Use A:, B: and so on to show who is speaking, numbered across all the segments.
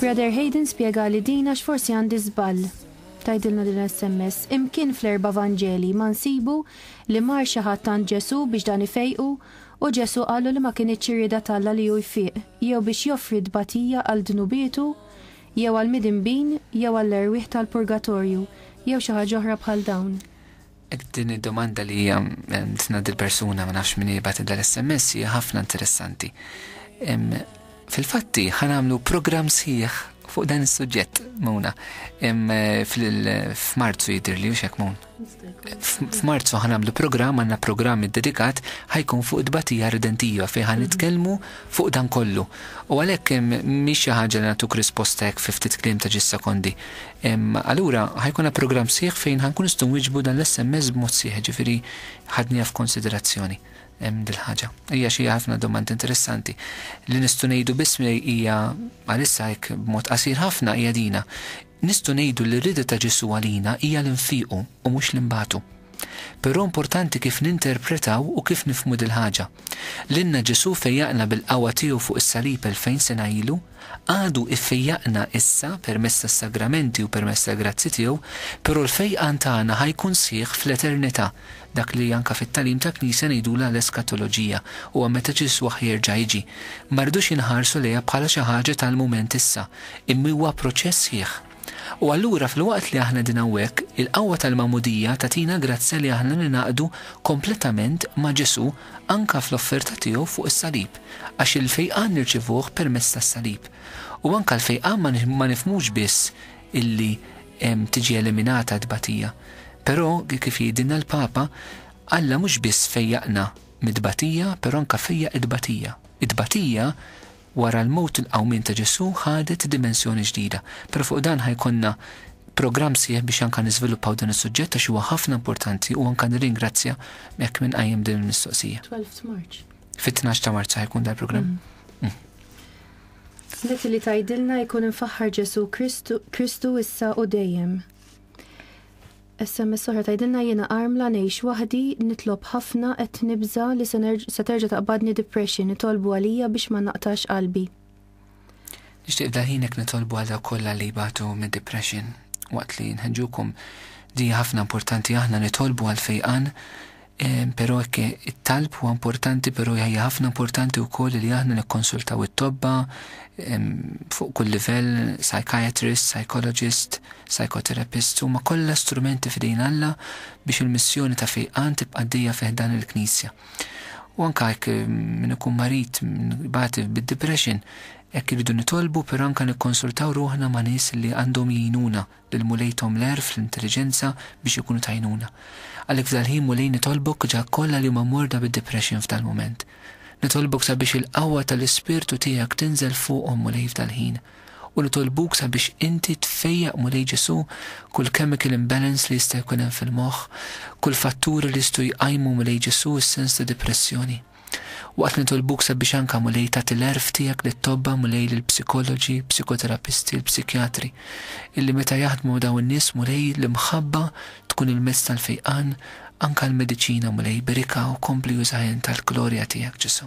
A: Brother Hayden spjega li din għax forsi għandi żball. Tajdilna din SMS, imkien fl-erba' Vanġeli ma nsibu li mar xi ħadd għand Ġesù biex dan ifejqu u Ġesù qallu li ma kinitx ir-rieda t'Alla li hu jfiq jew biex joffri tbatija għal dnubietu jew għall-midinbin jew għall-erwieħ tal-purgatorju jew xi ħaġa oħra bħal dawn. Din
B: id-domanda li hija tina dil-persuna ma nafx min jibgħat dal-SMS hija ħafna interessanti. Fil-fatti ħanamlu programm sħiħ fuq dan is-suġġett muna. Eh, F'Marzu jidir li hux mun. F'Marzu ħanamlu programm għandna programm iddedikat ħajkun fuq id-batija redentiva fejn ħan nitkellmu fuq dan kollu. U għalhekk mhix xi ħaġa li nagħtuk risposta hekk fi ftit kliem ta' ġis sekondi. Allura ħa jkollna programm sħiħ fejn ħa nkunu nistgħu nwieġbu dan l-SMS b'mod sħiħ, jiġifieri ħadniha f'konsiderazzjoni dil-ħaġa. Hija xi ħafna domandi interessanti. Li nistgħu ngħidu biss hija għalissa hekk b'mod qasir ħafna hija dina. Nistgħu ngħidu li r-rieda ta' Ġesù għalina hija li nfiequ u mhux li nbatu. Però importanti kif ninterpretaw u kif nifhmu dil-ħaġa. Lilna Ġesù fejjaqna bil-qawwa tiegħu fuq is-salib elfejn sena ilu, għadu jfejjaqna issa permezz tas-sagramenti u permezz tal-grazzji tiegħu, però l-fejqan tagħna ħa jkun sħiħ fl-eternità, dak li anke fit-tagħlim tal-Knisja ngħidulha l-eskatoloġija, huwa meta Ġesù ħa jerġa' jiġi. Ma rridux inħarsu lejha bħala xi ħaġa tal-mument issa, immi huwa proċess sħiħ. U allura filwaqt li aħna qegħdin hawnhekk, il-qawwa tal-Magħmudija tagħtina grazzja li aħna ningħaqdu kompletament ma' Ġesù anke fl-offerta tiegħu fuq is-salib, għax il-fejqan nirċievuh permezz tas-salib. U anke l-fejqan ma nifhmux biss illi tiġi eliminata t-tbatija. Però, kif jgħidilna l-Papa, Alla mhux biss fejjaqna mit-tbatija, però anke fejjaq it-tbatija. It-tbatija Wara l-mewt il-qawmien ta' Ġesù ħadet dimensjoni ġdida, però fuq dan ħa jkollna programm sħiħ biex anka niżviluppaw dan is-suġġett għax huwa ħafna importanti u anka nirringrazzja hekk min qajjem din il-mistoqsija. Twelfth March.
A: Fit-tnax ta' Marzu
B: ħa jkun dal-programm.
A: Smetti li tgħidilna jkun imfaħħar Ġesù Kristu issa u dejjem. SMS oħra tgħidilna jiena armla ngħix waħdi, nitlob ħafna qed nibża' li se terġa' taqbadni depression, itolbu għalija biex ma naqtax qalbi.
B: Nixtieq daħinek nitolbu għal dawk kollha li jbatu mid-depression waqt li nħeġġukom di hija ħafna importanti aħna nitolbu għall-fejqan Però hekk it-talb huwa importanti, però hija ħafna importanti wkoll li aħna nikkonsultaw it-tobba fuq kull livell, psychiatrist, psychologist, psychotherapist, huma kollha strumenti f'idejn Alla biex il-missjoni ta' fejqan tibqa' għaddejja fi ħdan il-Knisja. U anke hekk min ikun marid, min ibati bid-depression, hekk irridu nitolbu, però anke nikkonsultaw ruħna ma' nies li għandhom jgħinuna lil Mulej thom l-għerf, l-intelliġenza biex ikunu t'għajnuna. Għalhekk f'dal-ħin Mulej nitolbok ġa kollha li huma morda bid-depression f'dal-mument. Nitolbok sabiex il-qawwa tal-Ispirtu tiegħek tinżel fuqhom Mulej f'dal-ħin. U nitolbuk sabiex inti tfejjaq Mulej Ġesu' kull chemical imbalance li jista' jkun hemm fil-moħħ, kull fatturi li jistgħu jqajmu Mulej Ġesu' s-sens ta' depressjoni. Waqt li nitolbuk sabiex anka, Mulej, tagħti l-għerf tiegħek lit-tobba, Mulej, lill-psikoloġi, psikoterapisti, l-psikjatri, illi meta jaħdmu ma' dawn in-nies, Mulej, l-imħabba tkun il-mezz tal-fejqan, anka l-mediċina, Mulej, berikha u kompli użaha int għall-glorja tiegħek, Ġesù.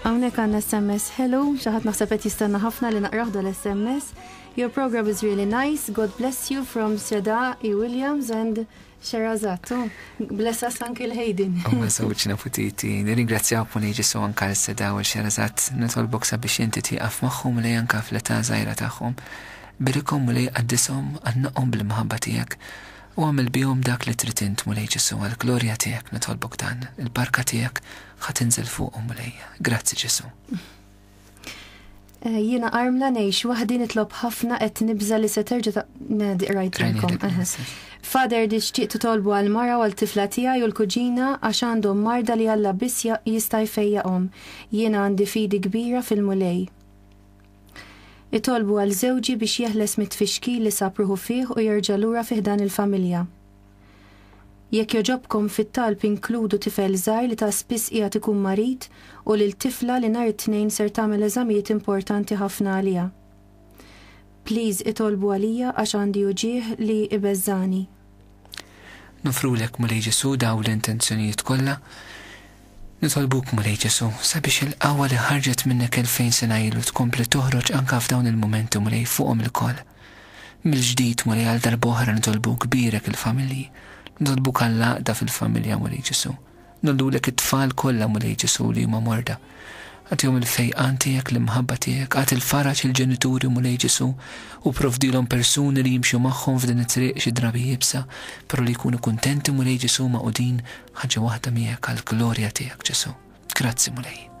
A: Hawnhekk għandna SMS ħelu, xi ħadd naħseb qed jistenna ħafna li naqrah dal-SMS. Your program is really nice, God bless you from Seda E. Williams and Sherazat. Oh, bless us Uncle Hayden. U ma sawċ naputiti,
B: nirringrazzjaw puni ġisu anka l-Seda u l-Sherazat, nitolbok sabiex jinti tiqaf maħħum li janka fl-età zaħira taħħum. Birikhom, Mulej, qaddishom, għannaqhom bil-imħabba tiegħek, u agħmel bihom dak li trid int, Mulej Ġesù, għall-glorja tiegħek nitolbok dan. Il-barka tiegħek ħa tinżel fuqhom, Mulej. Grazzi, Ġesù. Eh,
A: jiena armla ngħix waħdi nitlob ħafna qed nibża li se terġa' ta' qrajtilkom. Fader di xtieq titolbu għal mara għal tifla tiegħi u l-kuġina għax għandhom marda li Alla biss jista' jfejjaqhom. Jiena għandi fidi kbira fil-mulej. Itolbu għal żewġi biex jeħles mit-tfixkil li sab ruħu fih u jerġa' lura fi ħdan il-familja. Jekk jogħġobkom fit-talb inkludu tifel żgħir li ta' spiss qiegħed ikun marid u lil tifla li nhar it-Tnejn ser tagħmel eżamijiet importanti ħafna għaliha. Please itolbu għalija għax għandi uġigħ li ibeżżagħni.
B: Nofrulek, Mulej Ġesù, dawn l-intenzjonijiet kollha. Nitolbuk, Mulej Ġesù, sabiex il-qawwa li ħarġet minnek elfejn sena ilu tkompli toħroġ anke f'dawn il-mumenti, Mulej, fuqhom ilkoll. Mill-ġdid, Mulej, għal darb'oħra nitolbuk, bierek il-familji. Nitolbuk għall-għaqda fil-familja, Mulej Ġesù. Ngħoddulek it-tfal kollha, Mulej Ġesù, li huma morda. Agħtihom il-fejqan tiegħek, l-imħabba tiegħek. Agħti l-faraġ lill-ġenituri, Mulej Ġesù, u provdilhom persuni li jimxu magħhom f'din it-triq xi drabi iebsa, però li jkunu kuntenti, Mulej Ġesù, magħqudin ħaġa waħda miegħek għall-glorja tiegħek, Ġesù. Grazzi, Mulej.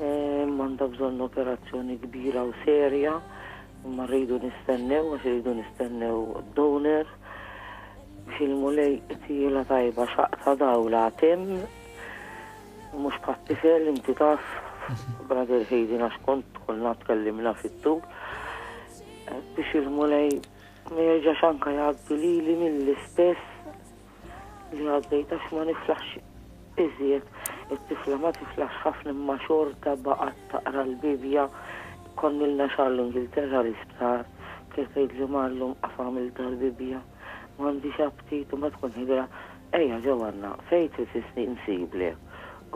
C: Eh, Manda bżonn operazzjoni kbira u serja, imma rridu nistennew, għax rridu nistennew donor. Fil-mulej tila tajba xaqta dawla tem, mux pattifel inti taf, brother Heidi għax kont konna tkellimna fit-tul, eh, biex il-mulej ma jerġax anka jgħaddi li li mill-istess li għaddejt għax ma niflaħx iżjed, it-tifla ma tiflaħx ħafna imma xorta baqgħet taqra l-Bibbja, konnilna xahar l-Ingilterra l-isptar, kienet tgħidli Mar llum qaf agħmel dal-Bibbja, m'għandix aptit u meta tkun ħidra ejja ġew għandna fejn trid issni nsiblek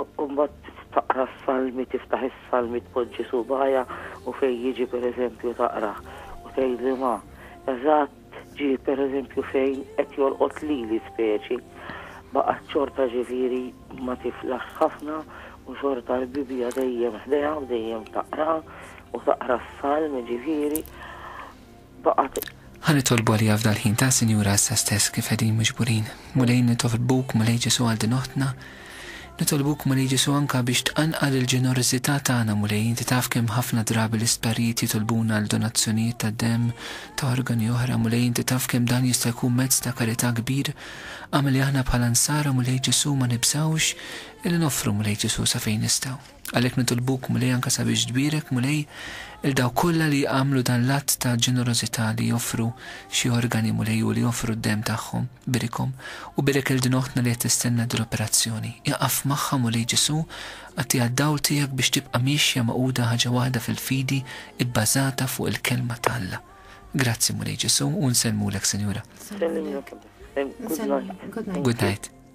C: u mbagħad taqra s-salmi tiftaħ is-salmi tpoġġi subgħajha u fejn jiġi pereżempju taqrah u tgħidli Ma eżatt Ġieli pereżempju fejn qed jolqot lili speċi, baqgħet xorta ġifieri ma tiflaħx ħafna u xorta l-Bibbja dejjem ħdejha u dejjem taqraha u taqra s-Salmi ġifieri baqgħet. Ħa nitolbu
B: għaliha f'dal-ħin ta' Sinjura issa stess kif qegħdin miġburin. Mulej nitoflbuk, Mulej Ġesù għal din oħtna, Nitolbuk, Mulej Ġesù, anke biex tqanqal il-ġenerożità tagħna, Mulej. Inti taf kemm ħafna drabi l-isptarijiet jitolbuna għal donazzjonijiet ta' demm, ta' organi oħra, Mulej. Inti taf kemm dan jista' jkun mezz ta' karità kbir. Agħmel li aħna bħala Nsara, Mulej Ġesù, ma nibżgħux illi noffru, Mulej Ġesù, sa fejn nistgħu. Għalhekk nitolbuk, Mulej, anke sabiex tbierek, Mulej, 'il dawk kollha li jagħmlu dan l-att ta' ġenerożità li joffru xi organi, Mulej, u li joffru d-demm tagħhom. Birikhom. U bierek 'il din oħtna li qed tistenna din l-operazzjoni. Iqaf magħha, Mulej Ġesù, agħtiha d-dawl tiegħek biex tibqa' miexja magħquda ħaġa waħda fil-fidi ibbażata fuq il-Kelma ta' Alla. Grazzi, Mulej Ġesù, u nsellmulek, Sinjura. Nsellmulek. Good night. Good night.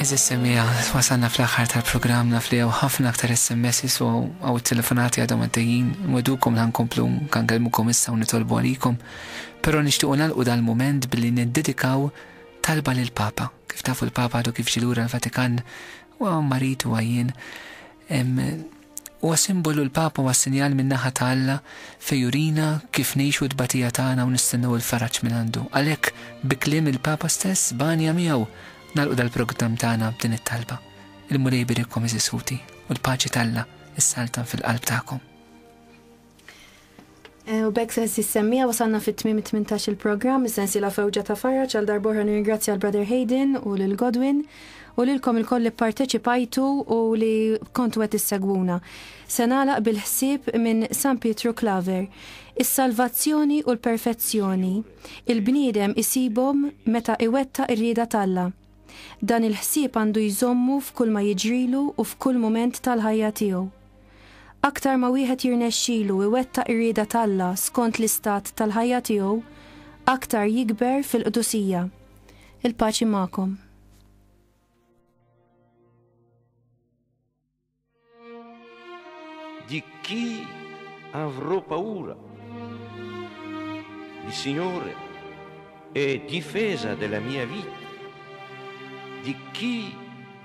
B: Eżis semija, wasanna fl-axar tal-program naf li ħafna aktar SMS u għaw telefonati għadhom għaddejjin, mwedukom lan komplu kan kelmukom issa u nitolbu għalikom, pero nishtiqu nalqu dal-moment billi neddedikaw talba l-Papa. Kif tafu l-Papa għadu kif ġie lura l-Vatikan, huwa marid u għajjien. Huwa simbolu l-Papa huwa sinjal min-naħa ta' Alla fejn jurina kif ngħixu t-tbatija tagħna u nistennew il-faraġ minn għandu. Għalhekk bi kliem il-Papa stess, b'għanja miegħu, nagħlqu dal-progdam tagħna b'din it-talba. Il-Mulej jbierikkom għeżież ħuti, u l-paċi t'Alla, issaltan fil-qalb tagħkom. Eh, u
A: bekk sensi semmija wasanna fit tmim 18 il-programm, sensi la fewġa ta' farra ċal darborħa nirringrazzja l-Brother Hayden u lil Godwin u lilkom il-koll li parteċipajtu u li kontu għet issegwuna. Senalaq bil-ħsib minn San Pietru Klaver. Is-salvazzjoni u l-perfezzjoni, il-bniedem isibhom meta iwetta ir-rieda talla. Dan il-ħsieb għandu jżommu f'kull ma jiġrilu u f'kull moment tal-ħajja tiegħu. Aktar ma wieħed jirnexxilu iwettaq ir-rieda t'Alla skont l-istat tal-ħajja tiegħu, aktar jikber fil-qdusija. Il-paċi magħkom.
D: Di chi avrò paura? Il Signore è difesa della mia vita. Di chi